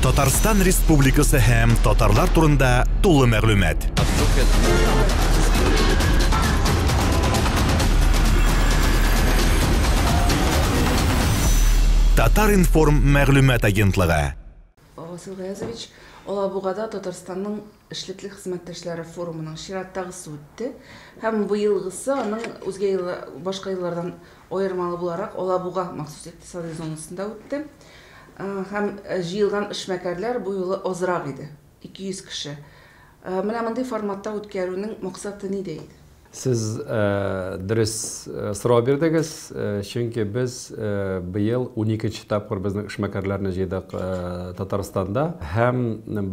Татарстан Республикасы һәм татарлар турында тулы мәгълүмат. Татар-информ мәгълүмат агентлыгы. Васил Гаязович, Алабугада Татарстанның Эшлекле хезмәттәшләре форумының чираттагысы үтте һәм быелгысы аның үзгә ел башка еллардан аермалы буларак Алабуга махсус икътисадый зонасында үтте һәм җыелган эшмәкәрләр бу юлы азрак иде, 200 кеше. Менә мондый форматта үткәрүнең максаты нидә иде? Сез дөрес сорау бирдегез, чөнки без быел уникенче тапкыр безнең эшмәкәрләрне җыйдык Татарстанда. Һәм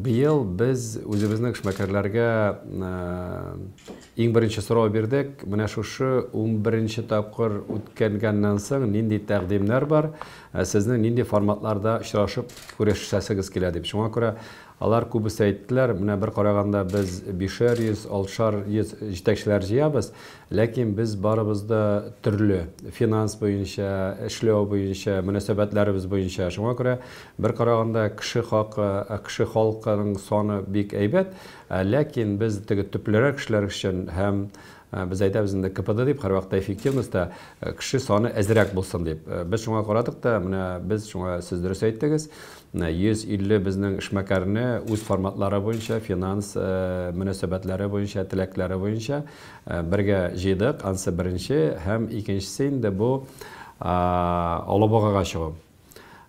быел без үзебезнең эшмәкәрләргә иң беренче сорау бирдек, менә шушы унберенче тапкыр үткәнгәннән соң нинди тәкъдимнәр бар, сезнең нинди форматларда очрашып күрешәсегез килә дип. Шуңа күрә Алар күбесе әйттеләр, менә бер караганда без бишәр йөз, алтшар йөз җитәкчеләр җыябыз, ләкин без барыбыз да төрле, финанс буенча, эшләү буенча, мөнәсәбәтләребез буенча. Шуңа күрә бер караганда кеше хакы, кеше халкының саны бик әйбәт, ләкин без теге төплерәк кешеләр өчен һәм, Без әйтәбез инде КПД дип, һәрвакытта эффективность та кеше саны әзрәк булсын дип. Без шуңа карадык та, менә без шуңа сез дөрес әйттегез, 150 безнең эшмәкәрне үз форматлары буенча, финанс мөнәсәбәтләре буенча, теләкләре буенча бергә җыйдык. Ансы беренче һәм икенчесе инде бу Алабугага чыгу.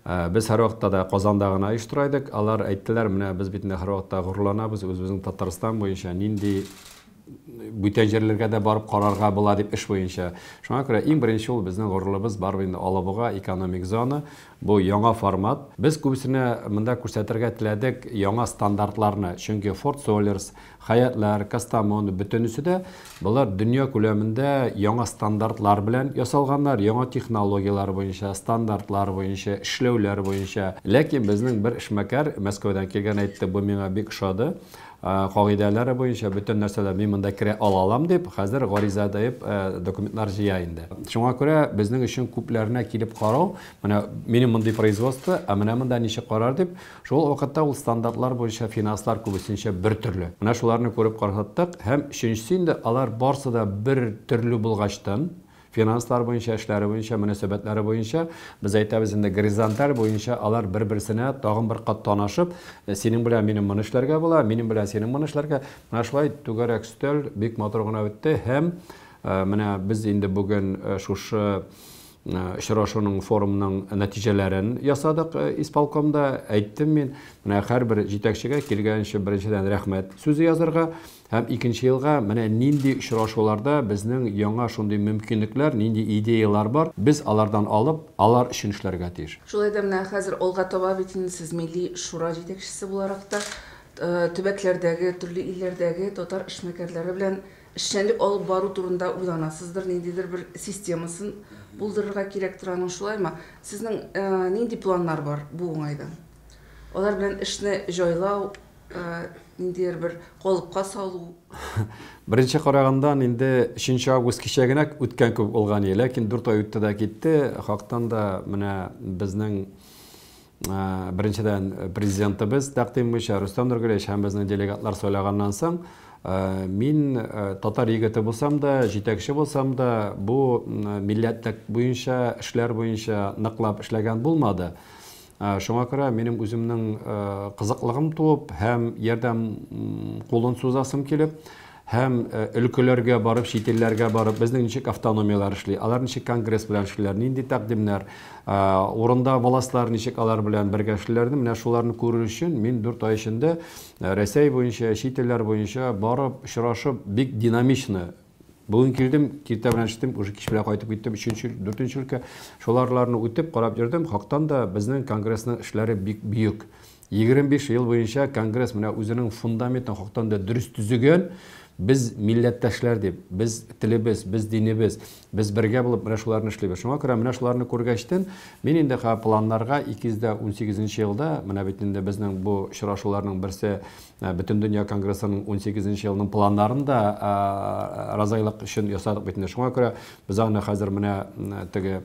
Без һәрвакытта да Казанда гына оештыра идек. Алар әйттеләр, менә без бит инде һәрвакытта горурланабыз, үзебезнең Татарстан буенча нинди бүтән җирләргә дә барып карарга була дип эш буенча. Шуңа күрә иң беренче ул безнең горурлыбыз барып инде Алабуга экономик зона. Бу яңа формат. Без күбесенә монда күрсәтергә теләдек яңа стандартларны, чөнки Форд Солерс, Хәятләр, Кастамону, бөтенесе дә болар дөнья күләмендә яңа стандартлар белән ясалганнар, яңа технологияләр буенча, стандартлар буенча, эшләүләр буенча. Ләкин безнең бер эшмәкәр Мәскәүдән килгән әйтте, бу миңа бик ошады, кагыйдәләре буенча бөтен нәрсәләр, мин монда керә ала алам дип, хәзер гариза дип документлар җыя инде. Шуңа күрә безнең өчен күпләренә килеп карау, менә минем мондый производство, ә менә монда ничек карар дип, Шул ук вакытта ул стандартлар буенча финанслар күбесенчә бер төрле. Менә шуларны күреп каршаттык һәм өченчесе инде алар барсы да бер төрле булгачтын, финанслар буенча, эшләре буенча, мөнәсәбәтләре буенча, без әйтәбез инде горизонталь буенча алар бер-берсенә тагын бер кат танышып, синең белән минем моны эшләргә була, минем белән синең моны эшләргә. Менә шулай түгәрәк өстәл бик матур гына үтте һәм менә без инде бүген шушы Очрашуның, форумның нәтиҗәләрен ясадык исполкомда. Әйттем мин, менә һәрбер җитәкчегә килгәнче беренчедән рәхмәт сүзе язырга һәм икенче елга менә нинди очрашуларда безнең яңа шундый мөмкинлекләр, нинди идеяләр бар, без алардан алып, алар өчен эшләргә тиеш. Шулай да менә хәзер алга таба бит инде сез милли шура җитәкчесе буларак та төбәкләрдәге, төрле илләрдәге татар эшмәкәрләре белән Эшчәнлек алып бару турында уйланасыздыр, ниндидер бер системасын булдырырга кирәк тора аның, шулаймы? Сезнең нинди планнар бар бу уңайдан? Алар белән эшне җайлау, ниндидер бер калыпка салу? Беренче карагандан инде 3 август кичә генә үткән кебек булган иде, ләкин 4 ай үтте дә китте. Хактан да менә безнең Беренчедән, Президентыбыз тәкъдим буенча Рөстәм Нургалиевич һәм безнең делегатлар сайлаганнан соң, мин татар егете булсам да, җитәкче булсам да, бу милләтлек буенча, эшләр буенча ныклап эшләгән булмады. Шуңа күрә минем үземнең кызыклыгым туып һәм ярдәм кулын сузасым килеп, һәм өлкәләргә барып, чит илләргә барып, безнең ничек автономияләр эшли, алар ничек конгресс белән эшлиләр, нинди тәкъдимнәр, урында властьлар ничек алар белән бергә эшлиләрне, менә шуларны күрер өчен мин дүрт ай эчендә Рәсәй буенча, чит илләр буенча барып, очрашып, бик динамично Бүген килдем, киртә белән эштем, уже кич белән кайтып киттем, өченче, дүртенче өлкә. Шуларларны үтеп, карап йөрдем, хактан да безнең конгрессның эшләре бик бөек. 25 ел буенча конгресс менә үзенең фундаментын хактан да дөрес төзегән. Без милләттәшләр дип, без телебез, без динебез, без бергә булып менә шуларны эшлибез. Шуңа күрә менә шуларны күргәчтен, мин инде планнарга 218 нче елда, менә бит инде безнең бу очрашуларның берсе э, Бөтендөнья конгрессының 18 нче елының планнарын да э, разайлык өчен ясадык бит инде. Шуңа күрә без аны хәзер менә теге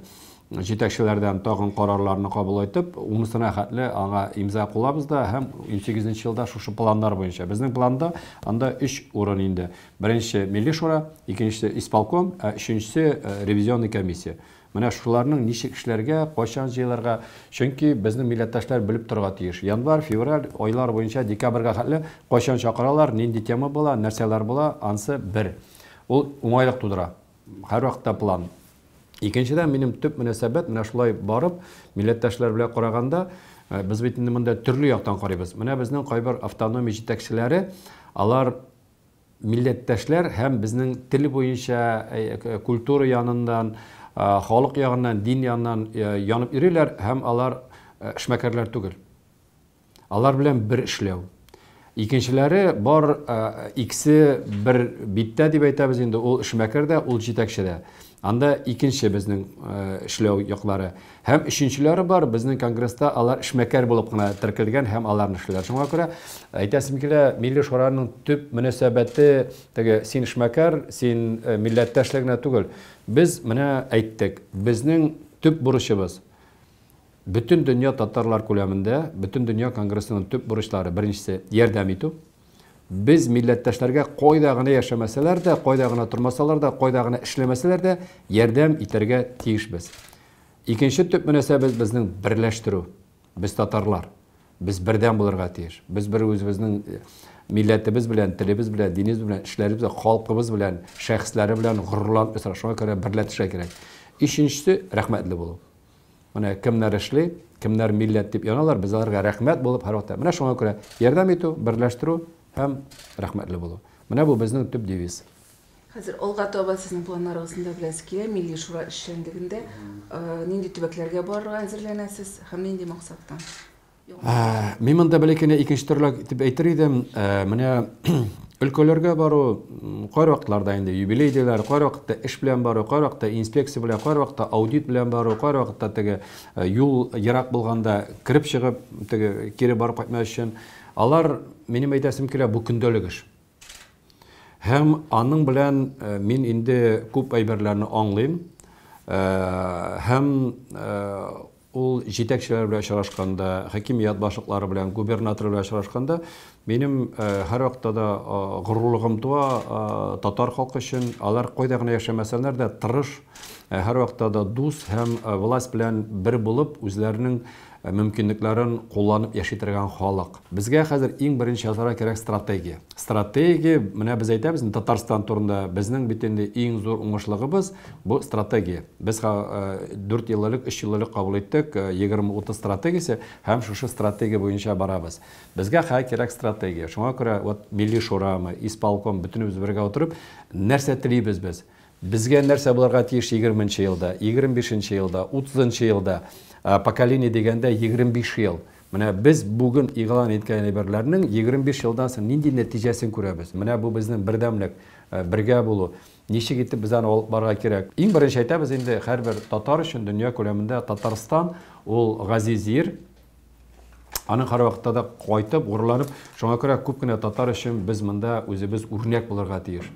җитәкчеләрдән тагын карарларны кабул итеп, унысына хәтле аңа имза кулабыз да һәм унсигезенче елда шушы планнар буенча. Безнең планда анда өч урын инде. Беренче, Милли шура, икенчесе, исполком, ә өченчесе, ревизионный комиссия. Менә шуларның ничек эшләргә, кайчан җыелырга, чөнки безнең милләттәшләр белеп торырга тиеш. Январь, февраль айлар буенча декабрьгә хәтле кайчан чакыралар, нинди тема була, нәрсәләр була, ансы бер. Ул уңайлык тудыра. Һәрвакытта план. Икенчедән, минем төп мөнәсәбәт, менә шулай барып, милләттәшләр белән караганда, без бит инде монда төрле яктан карыйбыз. Менә безнең кайбер автономия җитәкчеләре, алар милләттәшләр һәм безнең тел буенча, культура яныннан, халык ягыннан, дин яныннан янып йөриләр һәм алар эшмәкәрләр түгел. Алар белән бер эшләү. Икенчеләре бар иксе бер биттә дип әйтәбез инде, ул эшмәкәр дә, ул җитәкче дә. Анда икенче безнең эшләү яклары. Һәм өченчеләре бар, безнең конгресста алар эшмәкәр булып кына теркәлгән һәм аларны эшләр. Шуңа күрә әйтәсем килә, милли шураның төп мөнәсәбәте теге син эшмәкәр, син милләттәшлегенә түгел. Без менә әйттек, безнең төп бурычыбыз Бөтендөнья татарлар күләмендә Бөтендөнья конгрессының төп бурычлары, беренчесе, ярдәм итү. Без милләттәшләргә кайда гына яшәмәсәләр дә, кайда гына тормасалар да, кайда гына эшләмәсәләр дә, ярдәм итәргә тиешбез. Икенче төп мөнәсәбәт безнең берләштерү. Без татарлар. Без бердәм булырга тиеш. Без бер үзебезнең э, милләтебез белән, телебез белән, динебез белән, эшләребез белән, халкыбыз белән, шәхесләре белән горурланып яшәргә, шуңа күрә берләтешә кирәк. Өченчесе, рәхмәтле булу. Менә кемнәр эшли, кемнәр милләт дип яналар, без аларга рәхмәт булып һәрвакыт. Менә шуңа күрә ярдәм итү, берләштерү һәм рәхмәтле булу. Менә бу безнең төп девиз. Хәзер алга таба сезнең планнарыгыз ниләр беләсе килә? Милли шура эшчәнлегендә нинди төбәкләргә барырга әзерләнәсез һәм нинди максаттан? Мин монда бәләкәне икенче төрле дип әйтер идем. Менә өлкәләргә бару кайбер вакытларда инде юбилей диләр, кайбер вакытта эш белән бару, кайбер вакытта инспекция белән, кайбер вакытта аудит белән бару, кайбер вакытта теге э, юл ерак булганда кереп чыгып, теге кире барып кайтмас өчен. Алар минем әйтәсем килә, бу көндәлек эш. Һәм аның белән э, мин инде күп әйберләрне аңлыйм. Э, һәм Ул җитәкчеләр белән очрашканда, хакимият башлыклары белән, губернатор белән очрашканда, минем һәрвакытта да горурлыгым туа татар халкы өчен. Алар кайда гына яшәмәсәләр дә, тырыш, һәрвакытта да дус һәм власть белән бер булып, үзләренең мөмкинлекләрен кулланып яши торган халык. Безгә хәзер иң беренче ясарга кирәк стратегия. Стратегия, менә без әйтәбез инде Татарстан турында, безнең бит инде иң зур уңышлыгыбыз, бу стратегия. Без дүрт ел элек, өч ел элек кабул иттек 20-30 стратегиясе һәм шушы стратегия буенча барабыз. Безгә хәзер кирәк стратегия. Шуңа күрә вот Милли шурамы, исполком, бөтенебез бергә утырып, нәрсә телибез без? Безгә нәрсә булырга тиеш егерменче елда, егерме бишенче елда, утызынчы елда? Поколение дигәндә егерме биш ел. Менә без бүген игълан иткән әйберләрнең егерме биш елдан соң нинди нәтиҗәсен күрәбез? Менә бу безнең бердәмлек, бергә булу. Ничек итеп без аны алып барырга кирәк? Иң беренче әйтәбез инде, һәрбер татар өчен дөнья күләмендә Татарстан ул газиз җир. Аның һәрвакытта да кайтып, горурланып, шуңа күрә күп кенә татар өчен без монда үзебез үрнәк булырга тиеш.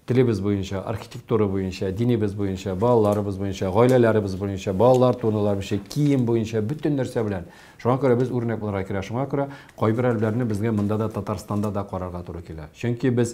Телебез буенча, архитектура буенча, динебез буенча, балаларыбыз буенча, гаиләләребез буенча, балалар турында буенча, кием буенча, бөтен нәрсә белән. Шуңа күрә без үрнәк булырга кирәк. Шуңа күрә кайбер әлбәләрне безгә монда да Татарстанда да карарга туры килә. Чөнки без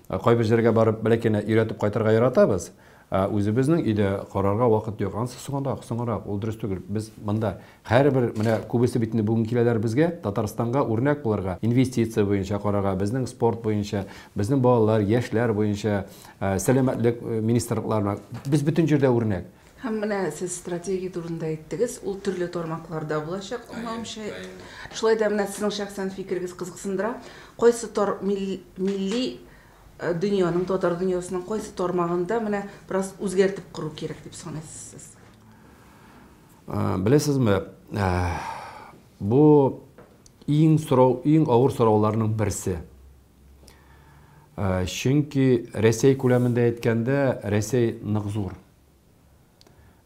э, кайбер җиргә барып бәләкәне өйрәтеп кайтырга яратабыз. Ә үзебезнең өйдә карарга вакыт юк. Ансы соңрак, соңрак, ул дөрес түгел. Без монда Һәрбер, менә күбесе бит инде бүген киләләр безгә, Татарстанга үрнәк булырга, инвестиция буенча карарга, безнең спорт буенча, безнең балалар, яшьләр буенча, сәламәтлек министрлыкларына. Без бөтен җирдә үрнәк. Һәм менә сез стратегия турында әйттегез, ул төрле тармакларда булачак, аңлавымча. Шулай да менә сезнең шәхсән фикерегез кызыксындыра. Кайсы тар, милли дөньяның, татар дөньясының кайсы тармагында менә бераз үзгәртеп кору кирәк дип саныйсыз сез? Беләсезме, бу иң сорау, иң авыр сорауларның берсе. Чөнки Рәсәй күләмендә әйткәндә, Рәсәй нык зур.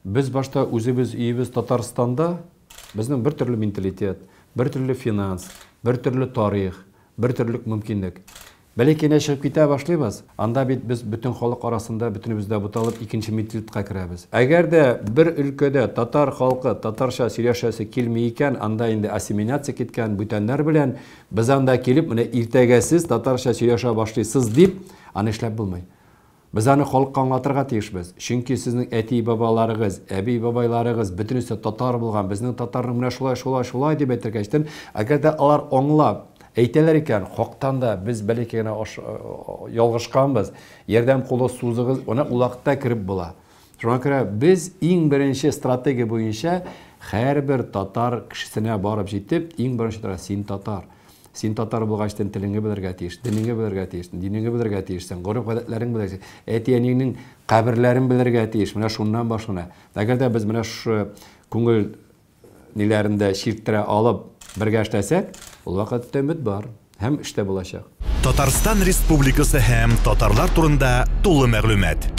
Без башта үзебез өебез Татарстанда, безнең бер төрле менталитет, бер төрле финанс, бер төрле тарих, бер төрлек мөмкинлек. Бәләкәенә чыгып китә башлыйбыз, анда бит без бөтен халык арасында бөтенебез дә буталып икенче ментилтка керәбез. Әгәр дә бер өлкәдә татар халкы татарча сөйләшәсе килми икән, анда инде ассимиляция киткән бүтәннәр белән без анда килеп, менә иртәгә сез татарча сөйләшә башлыйсыз дип, аны эшләп булмый. Без аны халыкка аңлатырга тиешбез. Чөнки сезнең әти-бабаларыгыз, әби-бабайларыгыз бөтенесе татар булган, безнең татарның менә шулай, шулай, шулай дип әйтергә эчтем. Әгәр дә алар аңлап, әйтәләр икән, хактан да без бәләкәй генә ялгышканбыз, ярдәм кулы сузыгыз, менә ул вакытта кереп була. Шуңа күрә без иң беренче стратегия буенча һәрбер татар кешесенә барып җитеп, иң беренче тора син татар. Син татар булгач, син телеңне белергә тиеш, динеңне белергә тиеш, динеңне белергә тиешсең, гореф-гадәтләрең белергә тиеш, әти-әниеңнең каберләрен белергә тиеш. Менә шуннан башлана. Әгәр дә без менә шушы күңел ниләрен дә чирттерә алып, бергә эшләсәк, ул вакытта өмет бар һәм эш тә булачак. Татарстан Республикасы һәм татарлар турында тулы мәгълүмат.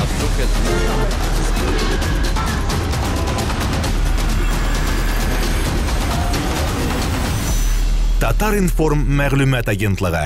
Татар-информ мәгълүмат агентлыгы.